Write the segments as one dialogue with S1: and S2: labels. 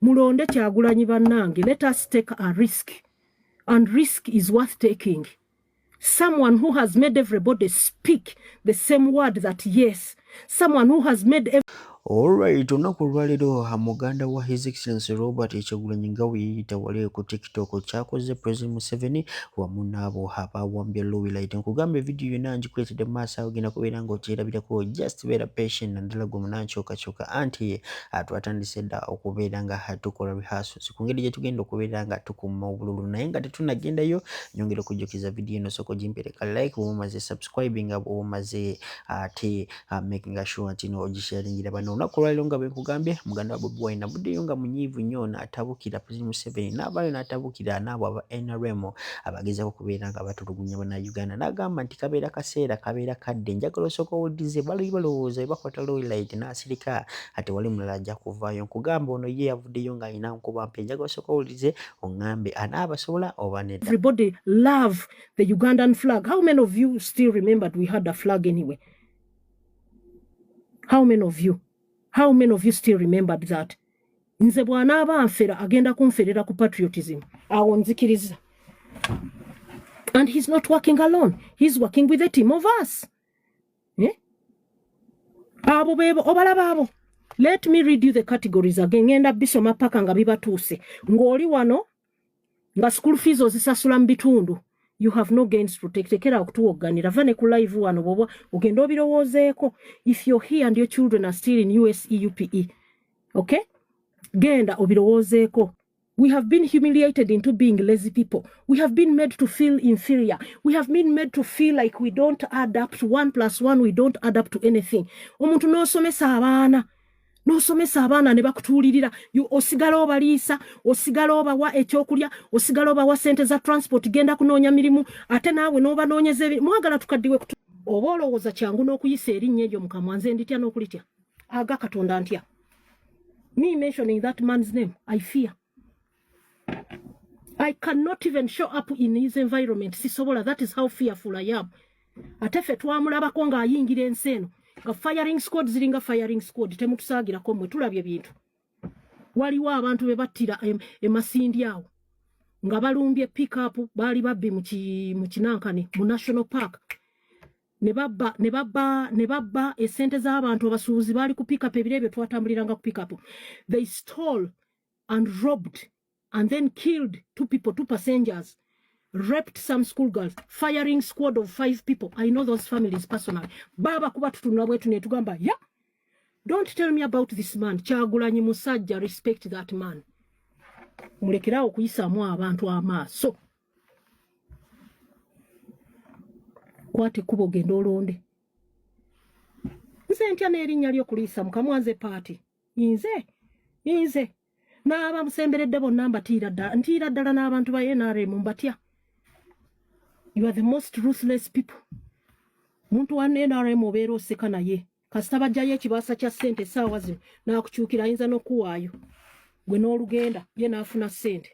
S1: mulonde kyagulanyi banange let us take a risk and risk is worth taking someone who has made everybody speak the same word that yes someone who has made every... Alright, olunaku
S2: olwaleero muganda wa His Excellency Robert Kyagulanyi nga weyeyita wale ku TikTok kyakoze President Museveni wamu n'abo abawambye Lowlight. Nkugambye vidiyo yonna ngikuleetedde mu maaso awo genda kubeera ng'okyerabirako. Just beera patient naddala gwe munankyukakyuka anti Ah, twatandise dda okubeera nga tukola rehearsals ku ngeri gyetugenda okubeera nga tukuuma obululu naye nga tetunagendayo nyongera okujjukiza vidiyo eno sooka ogimpereka like woba omaze subscribing nga bwoba omaze ate ah, making sure nti no ogisharingira bano olunaku olwaliro nga bwenkugambye muganda wa bobi wine nabuddeyo nga munyiivu nnyo natabukira president museveni naabaayo natabukira naabo aba nrm abagezako okubeera nga batulugunya bana uganda nagamba nti kabeera kaseera kabeera kadde njagala osooka owulirize bali balowooza ebakwata loylight nasirika nga tewali mulala ajja kuvaayo. Nkugamba ono ye yavuddeyo nga alina nkuba mpya. Njagala osooke owulirize ongambe ani abasobola oba nedda. Everybody love
S1: the Ugandan flag. How many of you still remembered we had a flag anyway? How many of you? How many of you still remembered that? Nze bwanaaba anfera agenda kunferera ku patriotism. Awo nzikiriza. And he's not working alone. He's working with a team of us. eh? abo bebo obalaba abo let me read you the categories again ngenda bisoma paka nga bibatuuse ng'oli wano nga school fees ozisasula mu bitundu you have no gains protektekera okutuwogganira va ne ku live wano bwoba ogenda obirowoozeeko if you're here and your children are still in use upe okay genda obirowoozeeko We have been humiliated into being lazy people. We have been made to feel inferior. We have been made to feel like we don't add up to one plus one, we don't add up to anything. Omuntu n'osomesa abaana n'osomesa abaana ne bakutuulirira osigala obaliisa osigala obawa ekyokulya osigala obawa sente za transport genda kunoonya mirimu ate naawe n'obanoonyeza mwagala tukaddiwe oba olowooza kyangu n'okuyisa erinnya eryo mukamwa nze nditya n'okulitya aga katonda ntya me mentioning that man's name i fear i cannot even show up in his environment sisobola that is how fearful i am ate ffe twamulabako ng'ayingira ensi eno nga firing squad ziringa firing squad temutusaagirako mwe tulabye bintu waliwo abantu be battira emasindi awo nga balumbye pickup baali babbi mu kinankani mu national park ne babba ne babba ne babba esente z'abantu abasuubuzi baali ku pickup ebiro ebyo twatambuliranga ku pickup they stole and robbed and then killed two people two passengers raped some school girls firing squad of five people i know those families personally baba kuba tutunula bwetu netugamba ya yeah. don't tell me about this man kyagulanyi musajja respect that man mulekerawo okuyisaamu abantu amaaso so. kwata ekkuba ogende olonde nze ntya n'erinnya lyo kuliisa mukamwa nze paati inze inze n'abamusemberedde bonna mbatiira ddala ntiira ddala n'abantu ba nrm mbatya you are the most ruthless people muntu wa nrm obeera oseka naye kasita bajjayo ekibaasa kya ssente essaawa zino naakukyukira ayinza n'okuwaayo gwe n'olugenda ye n'afuna ssente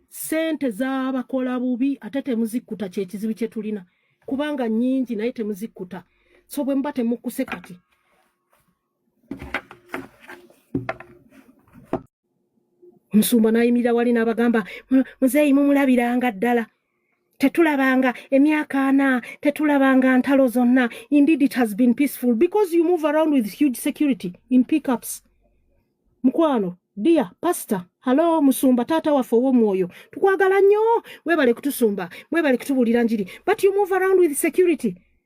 S1: ssente z'abakola bubi ate temuzikkuta kyekizibu kye tulina kubanga nyingi naye temuzikkuta so bwe muba temukkuse kati omusumba n'ayimirira wali n'abagamba muzeeyi mumulabiranga ddala tetulabanga emyaka ana tetulabanga ntalo zonna indeed it has been peaceful because you move around with huge security in pickups mukwano dia pastor halo musumba taata waffe ow'omwoyo tukwagala nnyo webale kutusumba webale kutubulira njiri but you move around with security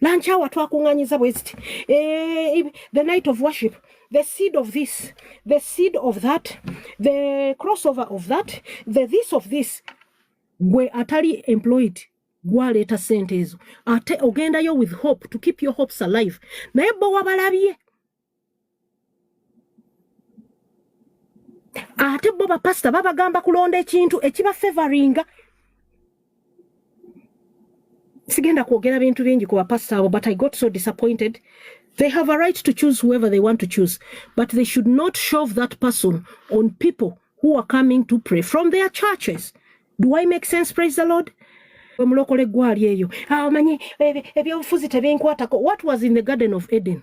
S1: nankyawa twakuŋŋanyiza bwe ziti eh, the night of worship the seed of this the seed of that the crossover of that the this of this gwe atali employed gwaleeta sente ezo ate ogendayo with hope to keep your hopes alive naye bo wabalabye ate bo bapasita babagamba kulonda ekintu ekiba favoringa sigenda kwogera bintu bingi ku bapasita abo but i got so disappointed they have a right to choose whoever they want to choose but they should not shove that person on people who are coming to pray from their churches do i make sense praise the lord omulokole gwali eyo awo ah, manyi ebyobufuzi tebinkwatako what was in the garden of eden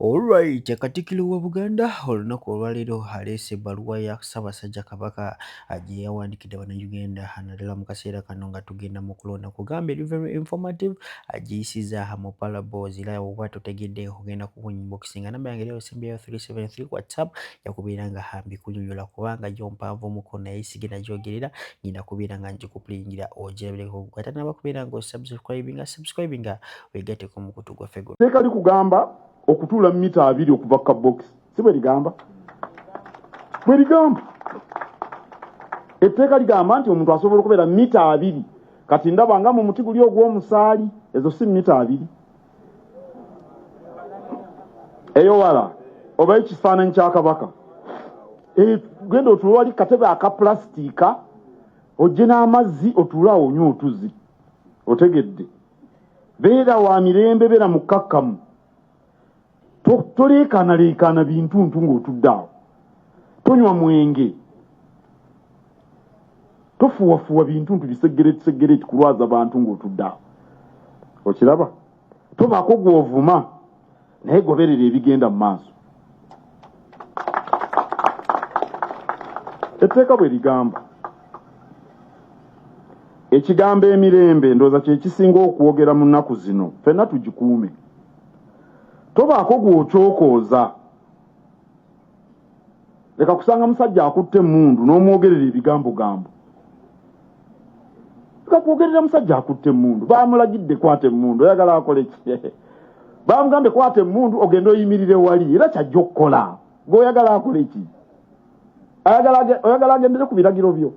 S2: Alright, Katikkiro wa Buganda olunaku olwaleero aleese ebbaluwa ya Ssaabasajja Kabaka gye yawandiikidde Bannayuganda naddala mu kaseera kano nga tugenda mu kulonda kugamba eri very informative agiyisiza mu palabo zira oba totegedde ogenda ku inbox nga namba yange lero sembyeyo 373 whatsapp yakubeera nga hambi kunyonyola kubanga gyo mpanvu muko naye sigenda gyogerera ngenda kubeera nga njikuplingira ogirabireko ate nabakubeera nga osubscribinga subscribinga begateko mukutu gwaffe guno. Teeka likugamba
S3: okutuula mita abiri okuva ka box si bwe ligamba bwe ligamba etteeka ligamba nti omuntu asobola okubeera mita abiri kati ndaba nga mu muti guli ogw'omusaali ezo si mita abiri eyo wala oba ekifaananyi kya kabaka eh, genda otuula wali katebe aka pulasitiika ojje n'amazzi otuula awo onywa otuzi otegedde beera wa mirembe beera mukkakkamu toleekaanaleekaana bintuntu ng'otudde awo tonywa mwenge tofuwafuwa bintuntu bisegeretisegere ekikulwaza bantu ng'otudde awo okiraba tobaako gw'ovuma naye goberera ebigenda mu maaso etteeka bwe ligamba ekigambo emirembe ndowooza kyekisinga okwogera mu nnaku zino fenna tugikuume tobaako gwokyokooza leka kusanga musajja akutte emundu n'omwogerera ebigambo gambo leka kwogerera musajja akutte emundu bamulagidde kwata emundu oyagala akole ki bamugambye kwata emundu ogende oyimirire wali era kyajja okukola gweoyagala akole ki oyagala agendere ku biragiro byo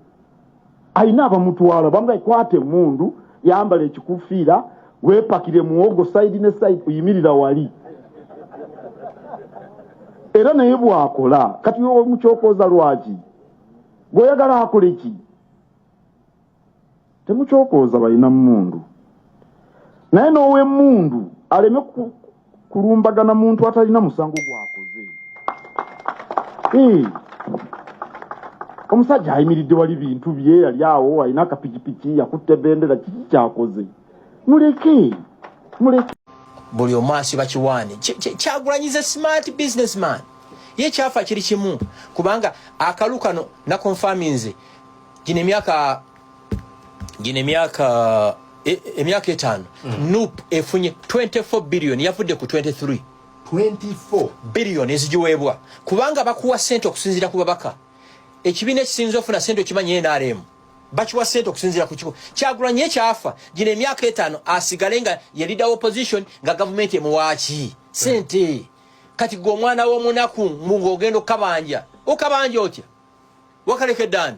S3: alina abamutwala bamugaye kwata emundu yambala ekikufiira wepakire muwogo saidi ne saidi oyimirira wali era naye bwakola kati mukyokoza lwaki gweoyagala akole ki temukyokoza balina mundu naye n'owemundu aleme kulumbagana muntu atalina musango gwakoze omusajja ayimiridde wali bintu bye yali awo alina akapikipiki yakutte bendera kiki kyakoze muleke muleke
S4: buli omu asiba kiwaani kyagulanyiza smart businessman ye kyafa kiri kimu kubanga akalu kano nakonfaminze gino emyaka gino emyaka e, emyaka etaano mm. nup efunye 24 billion yavudde ku 23 24 billion ezigiweebwa kubanga bakuwa sente okusinziira ku babaka ekibiina ekisinza ofuna sente okimanyi nrm bakiwa sente okusinziira ku kiko kyagulanye ekyafa gino emyaka etaano asigale nga yelida opposition nga gavumenti emuwaaki sente kati gwe omwana w'omunaku ng'ogenda okukabanja okabanja otya wakalekedde ani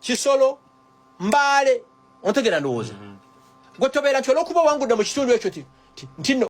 S4: kisolo mbaale ontegera ndowooza mm-hmm. gwe tobeera nti olwokuba owangudde mu kitundu ekyo ti nti